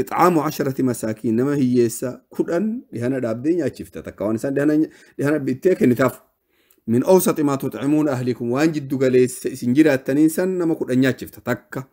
Ix'aamu asharati masaakiin nama hiyyeessa kudhan dhihana dhaabdee nyaachifta takka waan isaan dhihana dhihana bittee kennitaaf. Min awsati maa tut'imuun ahlikum waan jiddu galeessa isin jiraattaniin san nama kudhan nyaachifta takka.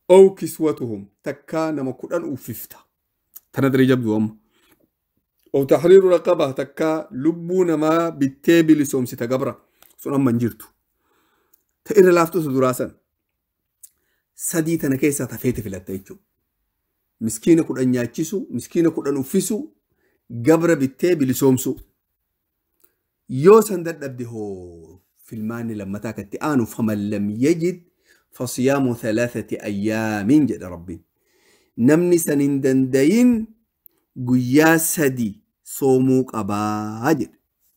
Ow kiswatuhum takka nama kudhan uffifta. Tana diri jabdu amma. Ow tahriiru raqaba takka lubbuu namaa bittee bilisoomsita gabra. Sun amma hin jirtu. Ta irra laaftutu duraa san. sadii tana keessaa tafeeti filatta jechuudha. Miskiina kudhan nyaachisuu, miskiina kudhan uffisuu, gabra bittee bilisoomsuu. Yoo san dadhabde hoo filmaanni lammataa kan itti aanu faman lam yajid fasiyaamu thalathati ayyaamiin jedha rabbiin. Namni san hin dandayin guyyaa sadi soomuu qabaa jedhe.